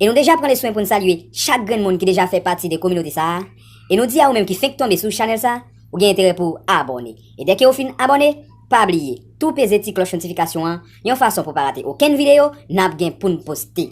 E nou deja pran le swen pou n salye chak grenn moun ki deja fè pati de kominote sa a, e nou di a ou menm ki fenk tonbe sou chanèl sa, ou gen enterè pou w abòne. E dèke ou fin abòne, pa bliye tou peze ti klòch notifikasyon an yon fason pou w pa rate okenn videyo n ap gen pou n poste.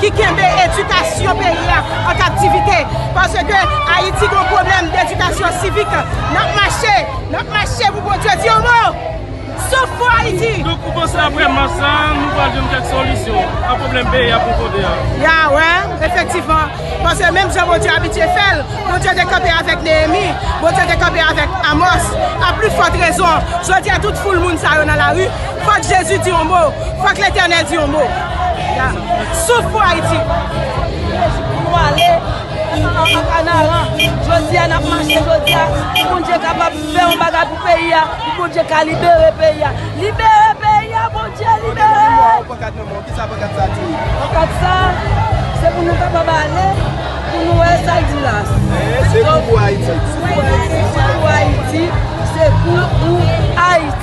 ki kenbe edikasyon peyi a an kaptivite paske ayiti gon pwoblèm dedikasyon sivik nap mache nap mache pou Bondye di yon mo souf pou ayiti. Donk ou panse aprè mach sa nou pral jwenn kèk solisyon a pwoblèm peyi a pou kote a? Ya wè efektivman paske menm jan Bondye abitye fèl Bondye te kanpe avèk Neyemi Bondye te kanpe avèk Amos a pli fòt rezon jodi a tout foul moun sa yo nan lari Fòk Jezi di yon mo. Fòk Letènèl di yon mo. Souf pou Ayiti. Jezi pou nou ale an kanaran. Jodi a nap mache jodi a. Pou Bondye kapab fè yon bagay pou peyi a. Pou Bondye ka libere peyi a. Libere peyi a Bondye libere. Mwen mwen pankat nan mwen. Kisa pankat sa di? Pankat sa se pou nou kapab ale. Pou nou wè sa di la. Se pou Ayiti. Se pou Ayiti. Se pou Ayiti.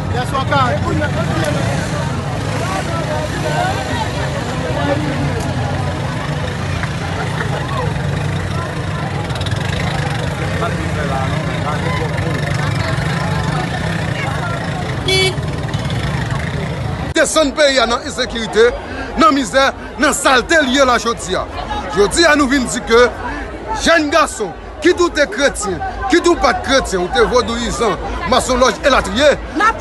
Desann peyi a nan ensekirite, nan mizè, nan salte li ye la jodi a. Jodi a nou vin di ke jèn gason. Kit ou te kretyen, kit ou pa t kretyen, ou te vodouyizan, masonlòj elatriye,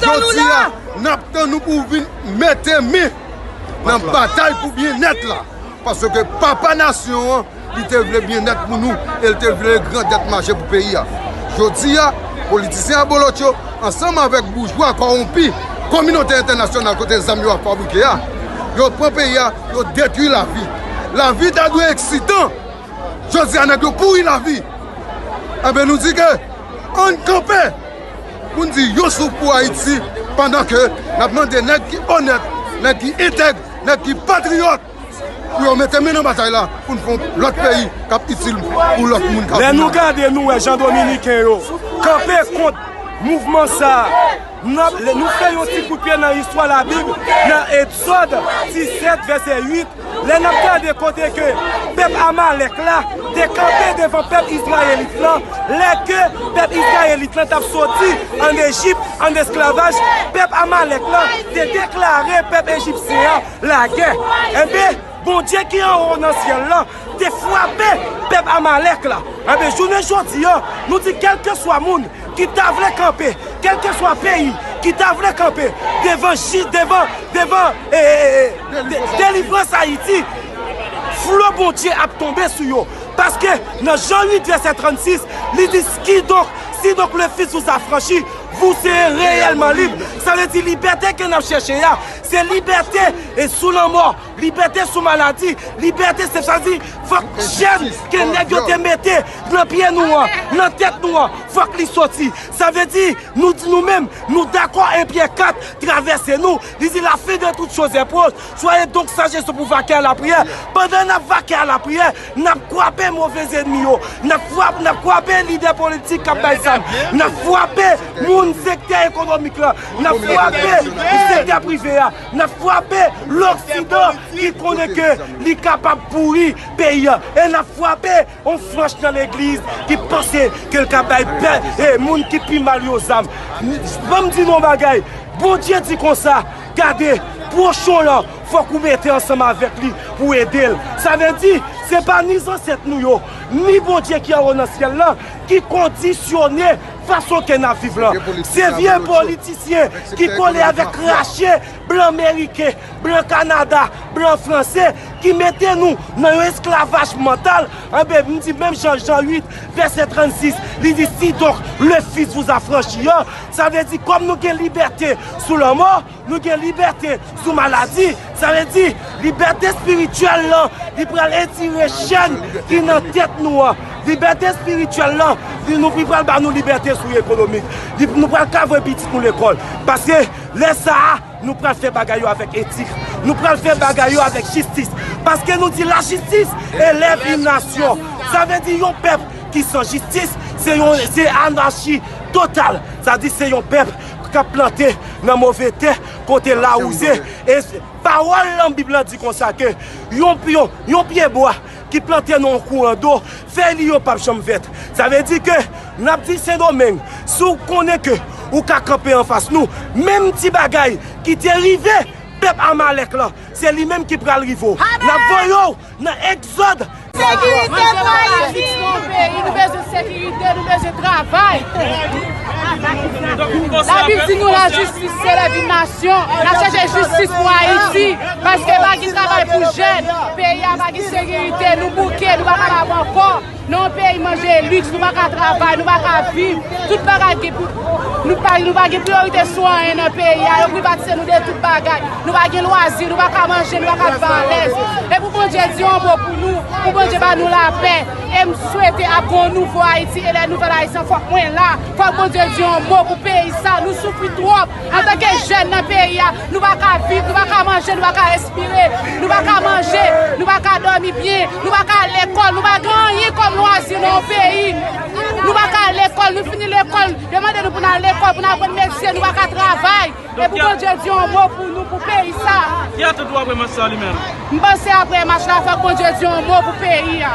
jodi a n ap tann ou pou w vin mete men nan batay pou byennèt la. Paske papa nasyon an, li te vle byennèt pou nou e l te vle grandèt mache pou peyi a. Jodi a, politisyen abolotcho ansanm avèk boujwa kòwonpi kominote entènasyonal kote zam yo ap fabrike a, yo pran peyi a, yo detwi lavi. Lavi ta dwe eksitan! Jodi a nèg yo kouri lavi, enben nou di ke ann kanpe pou n di yon souf pou Ayiti pandan ke n ap mande nèg ki onèt, nèg ki entèg, nèg ki patriyòt pou yo mete men nan batay la pou n fon lòt peyi k ap itil pou lòt moun k ap vini apre. Lè nou gade nou wè jan dominiken yo kanpe kont mouvman sa a. Nou fè yon ti koutpye nan istwa Labib nan Egzòd 17, vèsè 8, lè n ap gade kote ke pèp Amalèk la te kanpe devan pèp izrayelit lan, lè ke pèp izrayelit lan t ap soti ann Ejip ann esklavaj, pèp Amalèk lan te deklare pèp ejipsyen an lagè. Enben. Bondye ki anwo nan syèl la te frape pèp Amalèk la. Enben, jounen jodi a, nou di kèlkeswa moun ki ta vle kanpe, kèlkeswa peyi ki ta vle kanpe devan ji, devan, devan e, e, e, e, delivrans Ayiti, flo Bondye ap tonbe sou yo. Paske, nan Jan 8 vèsè 36, li di, Kidonk, si donk le Fis vous affranchit, vous serez réellement libres. Sa vle di libète ke n ap chèche a, Se libète sou lanmò, libète sou maladi, libète se sa di fòk chèn ke nèg yo te mete nan pye nou an, nan tèt nou an, fòk li soti. Sa vle di, nou di nou menm, nou dakò en Pyè 4 travèse nou, li di la fin de toute chose est proche, soyez donc sages se pou vake a la priyè. Pandan n ap vake a la priyè, n ap kwape move zennmi yo, n ap kwape lidè politik k ap bay zam, n ap kwape moun sektè ekonomik la, N ap fwape sekte prive a, n ap fwape loksidan ki konnen ke li kapab pouri peyi an e n ap fwape yon franch nan legliz ki panse ke l ka bay moun ki pi mal yo zam. Ban m di nou yon bagay, Bondye di konsa, Gade, pwochen w lan, fòk ou mete ansanm avèk li pou w ede l. Sa vle di, se pa ni zansèt nou yo, ni Bondye ki anwo nan syèl lan ki kondisyone. Fason ke nap viv lan, se vye politisyen ki kole avèk krache blan meriken, blan kanada, blan franse ki mete nou nan yon esklavaj mantal, anben m di menm jan Jan 8 vèsè 36 li di si donk le fis vous a franchi an, sa vle di kòm nou gen libète sou lanmò, Nou gen libète sou maladi, sa vle di libète espirityèl lan li pral etire chèn ki nan tèt nou an. Libète espirityèl lan li pral ba nou libète sou ekonomik. Nou pral ka voye pitit nou lekòl. Paske lè sa a, nou pral fè bagay yo avèk etik. Nou pral fè bagay yo avèk jistis. Paske nou di lajistis elève yon nasyon. Sa vle di yon pèp ki san jistis se anachi total. Sa vle di se yon pèp. k ap plante nan move tè, kote lawouze, e pawòl nan Bib la di konsa ke yon pyebwa ki plante nan yon kouran do, fèy li yo p ap janm vèt. Sa vle di ke n ap di Sendomeng, si w konnen ke ou ka kanpe anfas nou, menm ti bagay ki te rive pèp Amalèk lan, se li menm ki pral rive w. N ap voye w! Nan egzòd. Sekirite pou Ayiti! Nan egzòd. Nan egzòd. Nou bezwen sekirite, nou bezwen travay. Labib di nou lajistis se lèvin nasyon. N ap chèche jistis pou Ayiti. Paske pa gen travay pou jèn. Peyi a pa gen sekirite. Nou bouke, nou pa kapab ankò. Nan yon peyi manje e liks, nou pa ka travay, nou pa ka viv, tout bagay gen pri, nou pa nou pa gen priyorite sou anyen nan peyi a, yo privatize nou de tout bagay, nou pa gen lwazi, nou pa ka manje, nou pa ka viv alèz. E pou Bondye di yon mo pou nou, pou Bondye ba nou lapè, e m swete ap gen yon nouvo Ayiti e lè nouvèl Ayisyen fòk mwen la, fòk Bondye di yon mo pou peyi sa, nou soufri twòp. Antanke jèn nan peyi a, nou pa ka viv, nou pa ka manje, nou pa ka respire, nou pa ka manje, nou pa ka dòmi byen, nou pa ka al lekòl, nou pa gen anyen kòm lwazi nan yon peyi. Nou pa ka al lekòl, nou fini lekòl, yo mande nou pou nou al lekòl, pou nou aprann metye, nou pa ka travay. E pou Bondye di yon mo pou nou, pou peyi sa a. Ki atout ou ap remèsye a li menm? M panse aprè match la fòk Bondye di yon mo pou peyi a.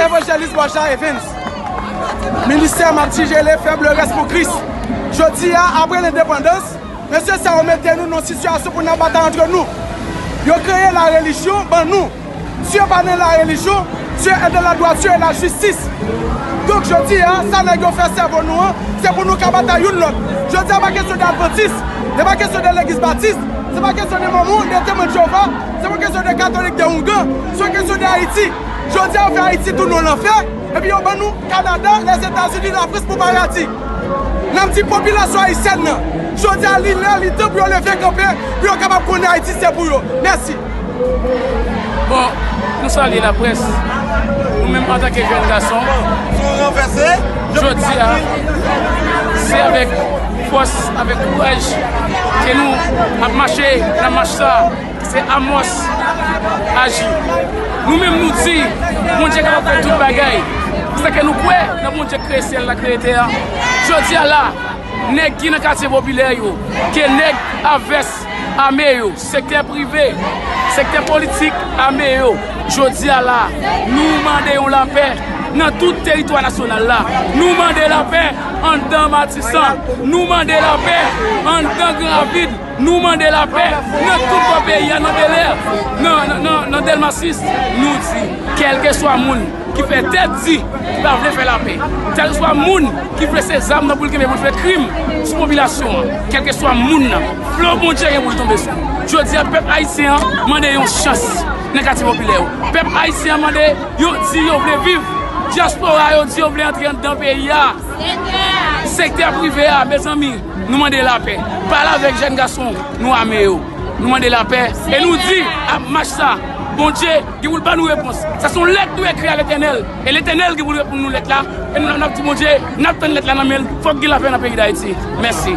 Evanjelis Boshar Evens, Ministè map tigele fèm le rès pou Kris. Jodi a, apre lendepandans, mesye sa yo mete nou nan sitiyasyon pou nap batay antre nou. Yo kreye la relijyon ban nou. Si yo pa nan la relijyon, Dieu est dans la droiture et la justice. Donk jodi a, sa nèg yo fè sèvo nou an, se pou nou ka batay youn lòt. Jodi a pa kesyon de advantis, li pa kesyon de legiz batis, se pa kesyon de mòmon, de temwen de Jewova, se pa kesyon de katolik, de oungan. Son kesyon de Ayiti. Jodia yo fè Ayiti tounen yon lanfè epi yo ban nou Kanada, Lèzetazini, Lafrans pou paradi. Nap di popilasyon ayisyèn nan, jodia li lè, li tan pou yo leve kanpe pou yo kapab konnen Ayiti se pou yo. Mèsi. Bon, nou salye laprès, nou menm antanke jèn gason, jodi a, se avèk fòs, avèk kouraj, ke nou ap mache nan mach sa. Se Amos ki pral aji. Nou menm nou di, Bondye kapab fè tout bagay. Pousake nou kwè nan Bondye ki kreye syèl la, kreye tè a. Jodi a la, nèg ki nan katye popilè yo, ke nèg a vès ame yo, sektè prive, sektè politik ame yo, jodi a la, nou mande yon lapè nan tout teritwa nasyonal la. Nou mande lapè anndan Matisan. Nou mande lapè anndan Gran Ravin. Nou mande lapè nan tout bò peyi a, nan Belè, nan Delmas 6. Nou di, kèlkeswa moun ki fè tèt di ki pa vle fè lapè, kèlkeswa moun ki vle se zam nan pou l kenbe pou l fè krim sou popilasyon an, kèlkeswa moun nan, fleau Bondye gen pou l tonbe sou. Jodi a, pèp ayisyen an mande yon chans nan katye popilè yo. Pèp ayisyen an mande, yo di yo vle viv. Dyaspora yo di yo vle antre anndan peyi a. Sektè prive a, mezanmi. Nou mande lapè. Pale avèk jèn gason nou ame yo. Nou mande lapè e nou di ap mach sa Bondye gen pou l ban nou repons. Sa se yon lèt nou ekri a Letènèl e Letènèl gen pou l reponn nou lèt la e nou la nap di Bondye nap tann lèt la nan men l fòk gen lapè nan peyi Dayiti. Mèsi.